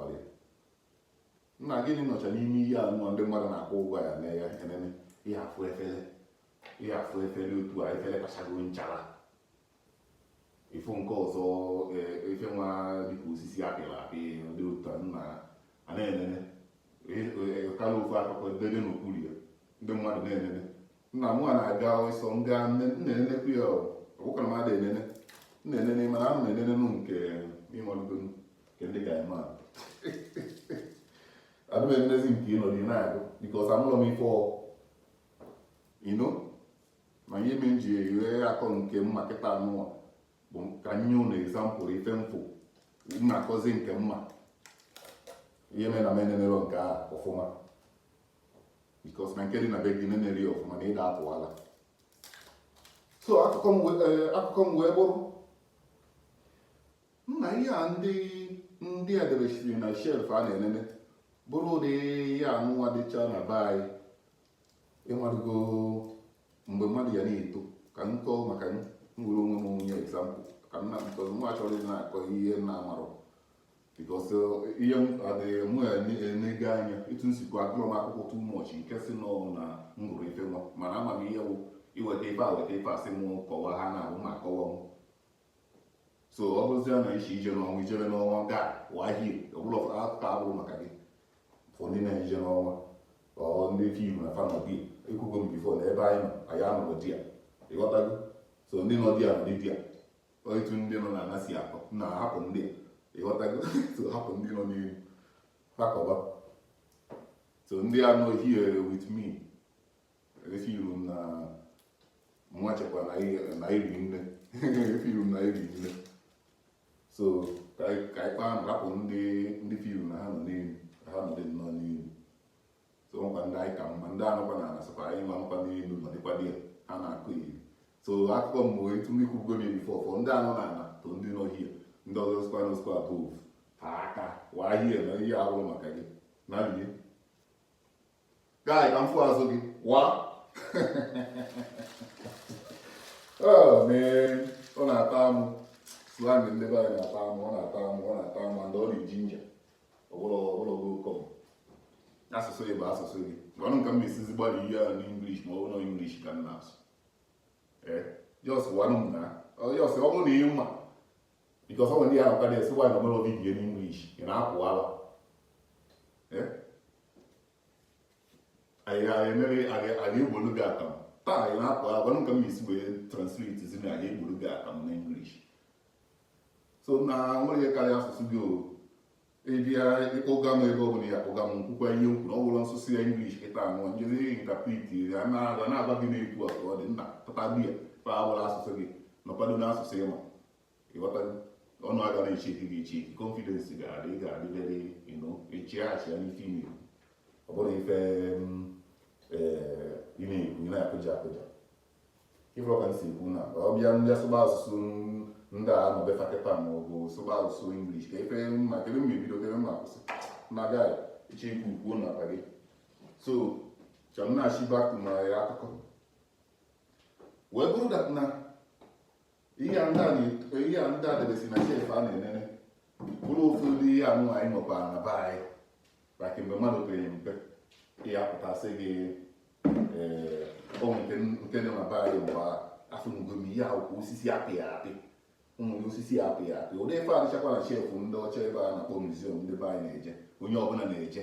ọrịa nna gịnị nọcha n'ime ihe anụwa ndị mmadụ na-akwụ ụgwọ ya na-enene ị ya-afụ efere ị ya-afụ efere otu a efere tachago nchara ị fụ nke ọzọ ife nwa dịka osisi apịrị apị dị otu a nna a na-enene kọrọ ofu akụkọ dede n'okpuru ya ndị mmadụ na-enene nna m na-aga ọsọ m gaa na-enenekwu ya ọ bụkwarọ m ada enene na-enene mana ana m enenenu nke ịmalụgo nke ndị ga-eme a adị m enenezi nke ịnọdụ na-agụ because amụlọ m ife you know ma ihe me m ji wee akọ nke mma kịta anụwa bụ ka m nye unu example ife m fụ na-akọzi nke mma ihe mere na m enenerọ nke a ọfụma because na nke dị na be gị nenerị ọfụma na ị da-apụ ala so akụkọ m wee eh, bụrụ nna ihe a ndị ndị edebesiri na shelf a na-enene bụrụ ụdị ihe anụnwa dịcha na be anyị ịmarụgo mgbe mmadụ ya na-eto ka m kọọ maka m were onwe m nye example ka nna because mụwa achọrọ ịdị na-akọ ihe m na-amarọ because uh, ihe m adịghị mụ enego anya etu m sikwu agụrọ m akwụkwọ too much nke sị na ọ bụ na m gụrụ ife nwa mana ama m ihe bụ iweta ife a weta ife a sị m kọwaa ha na ahụ ma kọwa m so ọ bụrụzie na ị sị ije n'ọnwa i jebe n'ọnwa gaa waa here ọ bụ na akụkọ abụrọ maka gị for ndị na-eje n'ọnwa ọ ndị feel na fa na-ebi ekwugo m before na ebe anyị nọ anyị anọrọ there ịghọtago so ndị nọ there nọ there etu ndị nọ na ana si akọ nna hapụ ndị a ịghọtago so hapụ ndị nọ n'elu fa kọba so ndị a nọ here with me efeel m na nwa chekwa na iri nne efeel m na iri nne so ka anyị kpaa nna hapụ ndị ndị feel na ha nọ n'elu ha nọ dị nnọọ n'elu so nkwa ndị anyị ka mma ndị nọkwa na ana sịkwa anyị nwa nọkwa n'elu nọdịkwa there ha na-akụ iri so akụkọ m bụ etu ndị kwugo m before for ndị nọ na ana to ndị nọ here ndị ọzọ sikwa na ọ sikwa above ha aka waa here na ihe abụrọ maka gị na lie guy ka m fụ azụ gị waa oh man ọ na-atọ amụ slang ndị be anyị na-atọ amụ ọ na-atọ amụ ọ na-atọ amụ and ọ na-eginger asụsụ gị bụ asụsụ gị gwanụ m ka m esizi gbalị ihe ahụ n'English ma ọ bụ na English ka m na-asụ just gwanụ m nna just ọ bụrụ na ị ma because ọ nwere ndị ahụ ka na-asị guy na-emere video n'English ị na-apụ ala anyị ga-emere anyị egbolu gị akamụ taa anyị na-apụ ala gwanụ m ka m esi wee translate zi na anyị egbolu gị akamụ n'English so na nwere ihe karịa asụsụ gị o ịbịa ịkpọga m ebe ọ bụla ya kpọga m nkwukwa ihe m kwuru ọ bụla nsụsụ ya English kịta anụ njezi interpret ya na-agwa na-agwa gị na-ekwu a ka ọ dị nna pụta bịa pa awụla asụsụ gị nọkwado n'asụsụ ịma ịghọta ọnụ aga na-echi eke gị echi confidence ga-adị ị ga-adị very you know echi achị ya n'ife ime ọ bụrụ ife mm, eh, ị na-ekwu ị na-akụja akụja ife ọka si ekwu na ọ bịa ndị asụba asụsụ ndị a nọ be fa kịta ma ọ bụ sụba asụsụ English ka ife m ma kedu m ma-ebido kedu m ma-akwụsị na gai iche ikwu kwuo n'akpa gị so chọrọ na-achị back to my akụkọ wee bụrụ that na ihe a ndị a debesi na shelf a na-enene bụrụ ụfọdụ ihe anụ anyị nwekwara na be anyị maka mgbe mmadụ pere mpe ya pụtasị gị onwe eh, nke dị na be anyị mgbe afụnugo m ihe akwụkwọ osisi apịa apị ụmụ osisi apịa apị ụdị ife a dịchakwa na shelf ndị ọcha ebe a na-akpọ museum ndị be anyị na-eje onye ọbụla na-eje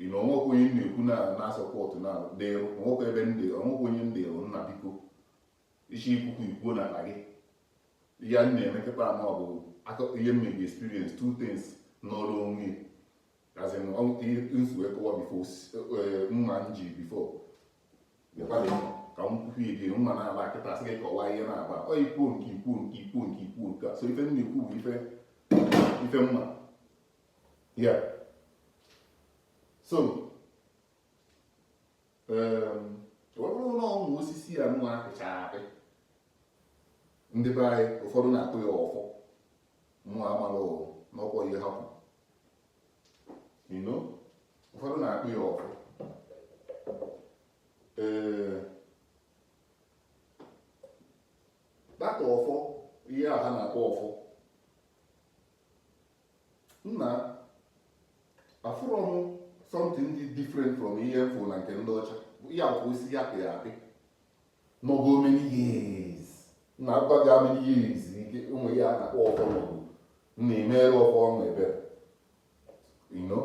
ị na onwekwa onye m na-ekwu na na-asọpọtụ na dịrụ onwekwa ebe ndị onwekwa onye ndị rụ nna biko isi ikwukwu ikwuo n'akpa gị ihe anyị na-eme kịta ma ọ bụ akụkọ ihe m na-eji experience two things n'ọrụ onwe as in ọ- ihe- nsi wee kọwa before mma m ji before bịakwadị m ka m kwukwu edi mma na-aba kịta sị gị kọwaa ihe na-aba ọ ikwuo nke ikwuo nke ikwuo nke ikwuo nke a so ife m na-ekwu bụ ife ife m ma ya so um, ọ bụrụ na ụmụ osisi a nwa a pịchara apị ndị be anyị ụfọdụ na-akpọ ya ọfọ mụ amarọ ma ọkwa ihe ha kwuru you know ụfọdụ na-akpọ ya ọfọ ee but ọfọ ihe a ha na-akpọ ọfọ nna afụrọ m something dị different from ihe m fụ na nke ndị ọcha ya bụ osisi a pịa apị nọgo many years na-agwa gị many years ike ụmụ ya na-akpọ ọfọ nọgo na-emere ọfọ ọnụ ebere you know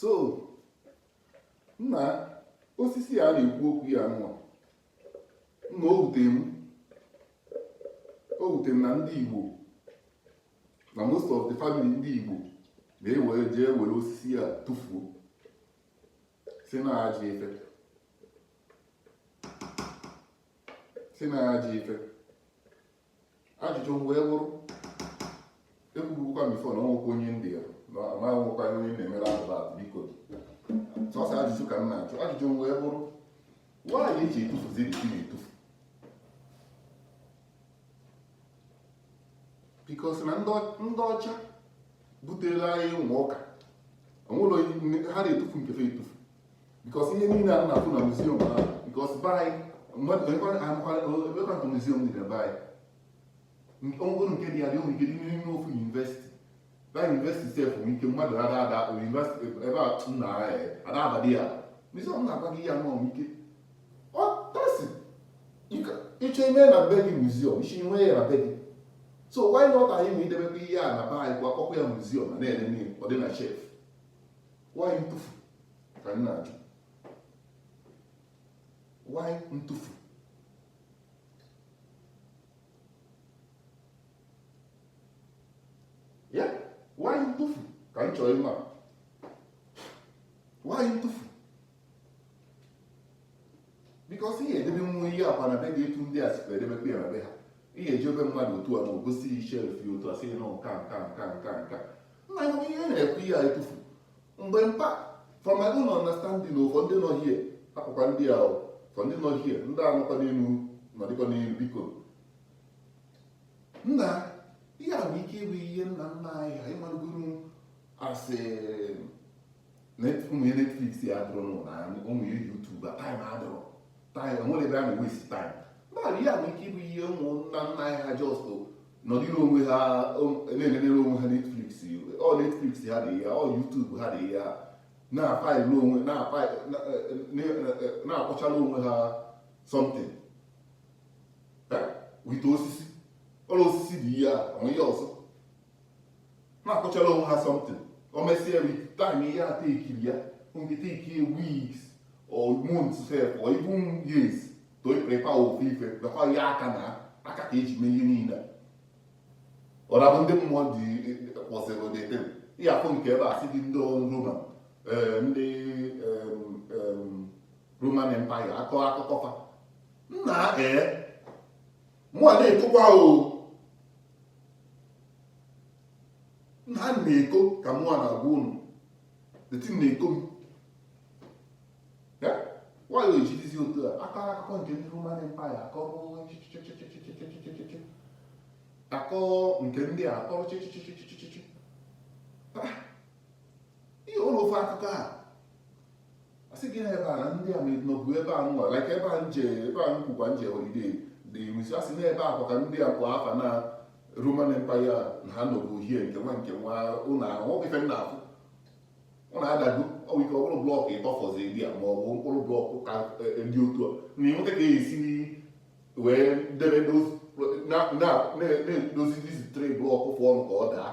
so nna osisi a a na-ekwu okwu ya nwa nna o wute m o wute m na ndị Igbo na most of the family ndị Igbo na-ewere jee were osisi a tụfuo sị na ajọ ife sị na ajọ ife ajụjụ m wee bụrụ ekwubukwa m before na onwekwa onye ndị ya na onwekwa onye na-emere advert biko sọsọ ajụjụ ka m na-ajụ ajụjụ m wee bụrụ why eji etufuzi isi na-etufu because na ndị ọcha butere anyị ụmụ ụka onwere ha na-etufu nke fa etufu because ihe niile a na-afụ na museum ahụ because be anyị mmadụ museum dị na be anyị onwere nke dị ya nwere ike dị n'ime ofu university na university sef nwere ike mmadụ ada ada university ebe a m na ada abadị ya museum na-agwa gị ya nọ ike ọ tasi ịchọ ime na be gị museum isi nwe ya na be gị so why not anyị ma idebekwa ihe a na be anyị kwa akpọkwa ya museum na na-enene ọ dị na shelf why ntụfu ka m na-ajụ why ntụfu ya why ntụfu ka m chọrọ ịma why ntụfu because ihe edebe nwa ihe akwa na be gị etu ndị a sikwa edebekwa ya na be ha ihe eji obe mmadụ otu a ma o gosighị shelf ya otu a sị na nka nna ya ihe na-ekwu ihe a etufu mgbe mpa from my own understanding ịfụ ndị nọ here akpụkwa ndị a ịfụ ndị nọ here ndị a nọkwa n'elu nọdịkwa n'elu biko nna ihe a nwere ike ịbụ ihe nna nna anyị ha ịmarụgoro asị ụmụ ihe netflix ya adịrọ n'ụlọ anyị ụmụ ihe youtube a time adịrọ time enwere ebe a na-ewesi time mmadụ ihe a nwere ike ịbụ ihe ụmụnna nna anyị ha just nọdịrị onwe ha na-enenere onwe ha netflix ọ netflix ha dị ya ọ youtube ha dị ya na-afaịlụ onwe na-akpụchala onwe ha something with osisi ọrụ osisi dị ihe a onwe ihe ọzọ na-akpụchara onwe ha something o mesie with time ihe a tekiri ya nke take weeks or months sef or even years to prepare ofu ife gakwa ya aka na aka ka eji mee ihe niile ọ na-abụ ndị mmụọ dị kpọsịrị dete ihe afọ nke ebe a si dị ndị Roma eh, ndị Roman Empire akọ akụkọ fa nna ee mụ a na-etokwa o nna na-eko ka mụ a na-agwa unu deti na-eko m why ejidizi otu a akọ akụkọ nke ndị Roman Empire akọ akọ nke ndị a akọrọ chịchịchịchịchịchị ihe ụlọ ofe akụkọ a a sị gị na ebe a na ndị a nọbu ebe a nwa like ebe a m je ebe a m kwukwa m je holiday dị iruzi a sị na ebe a kwa ka ndị a kwa afa na Roman Empire na ha nọbu hie nke nwa nke nwa ụlọ ahụ ọ bụ ife m na-afụ ụlọ adago ọ bụ ike ọ bụrụ blọkụ ịtọ fọzi dị a ma ọ bụ mkpụrụ blọkụ ka dị otu a na ị nweta ka e si wee debe na-edozi dizi tre blọkụ fụ ọnụ ka ọ daa